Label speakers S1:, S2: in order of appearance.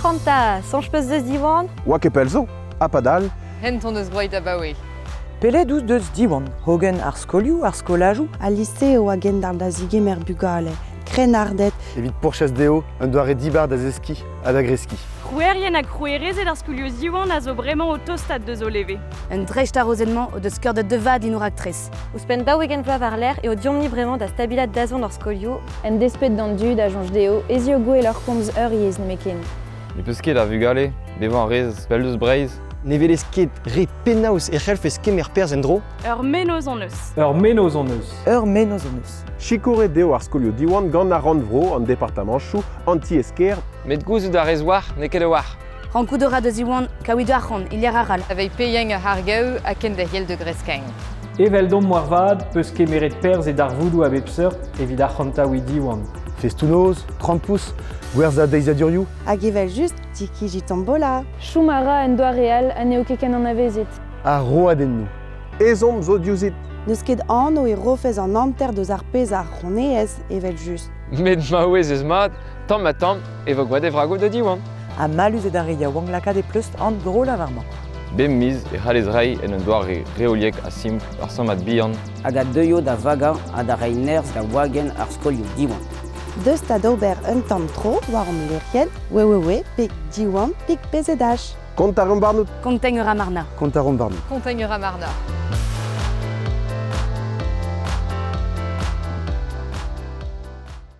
S1: Ac'hanta, soñj peus deus Diwan? Oa ket pell zo,
S2: ha padal. Hent hon eus gwraet
S3: abaoe. Pelet out
S4: deus Diwan? Hogen ar skolioù, ar skolajoù? Al lise a oa
S5: gendarm da zigemer bugale, krennarded. Evit pourchas
S6: dezho un doare dibar da zeskiñ ha da greskiñ. Krouerien ha
S7: krouerezed ar skolioù Ziwan a zo bremañ o tostat deus o leve. Un dreist-arrozenn-mañ
S8: o deus skeurdet da vat din ho raktres. Ouzhpenn daou-ugent vloaz
S1: war-lerc'h eo deomp-ni bremañ da stabilaat dazont hor skolioù. En desped d'an
S9: dud a soñj dezho ez eo gwell hor komz ur yezh nemetken. Ne peus ket a
S10: vugale? Bevañ a rez pell eus Breizh? Ne welez ket
S11: re penaos e c'hellfes kemer perzh en-dro? Ur menoz hon eus.
S7: Ur menoz hon eus.
S12: Ur menoz hon eus.
S4: Sikouret eo ar
S2: skolioù Diwan gant ar Rannvro, an departamanchoù, an tiez-kêr. Met gouzout a
S10: rez war n'eo ket a-walc'h. Rankout a ra da
S8: Ziwan kaout arc'hant e lec'h arall. Aveit Peien ar C'hargaou
S3: ha kenderc'hel da Greskagn. Eveldomp
S12: moarvat peus kemeret perzh e darvoudoù a bep seurt evit arc'hantaouiñ Diwan. Festoù-noz,
S6: krampouezh, gwerzhañ deizadurioù. Hag evel-just,
S5: ti-kiji Tombola! Chom a ra en
S9: doare all ha n'eo ket ken anavezet. Ar roadennoù
S6: ezhomm zo
S2: diouzhit. N'eus ket anv
S5: e rofez an hanter deus ar pezh a c'hroneez, evel-just. Met maouez
S10: eus mat Tamm-ha-tamm e vo gwad e vragoù da Diwan. Ha mallus eo d'ar
S4: re yaouank lakaat e pleustr an dro-lavar-mañ. Bep miz e
S10: c'hallez reiñ en un doare reoliek ha simpl ur sammad bihan. Hag a deuio da
S13: vagañ ha da reiñ nerzh da wagenn ar skolioù Diwan. Deus da
S5: d'ober un tamm tro war hom leurienn, wewewe, peg Diwan, peg PZH.
S6: Kontañ a ran warnout.
S2: Kontañ a ra
S8: Marna. Kontañ
S6: a ran warnout. Kontañ
S2: a
S8: ra Marna.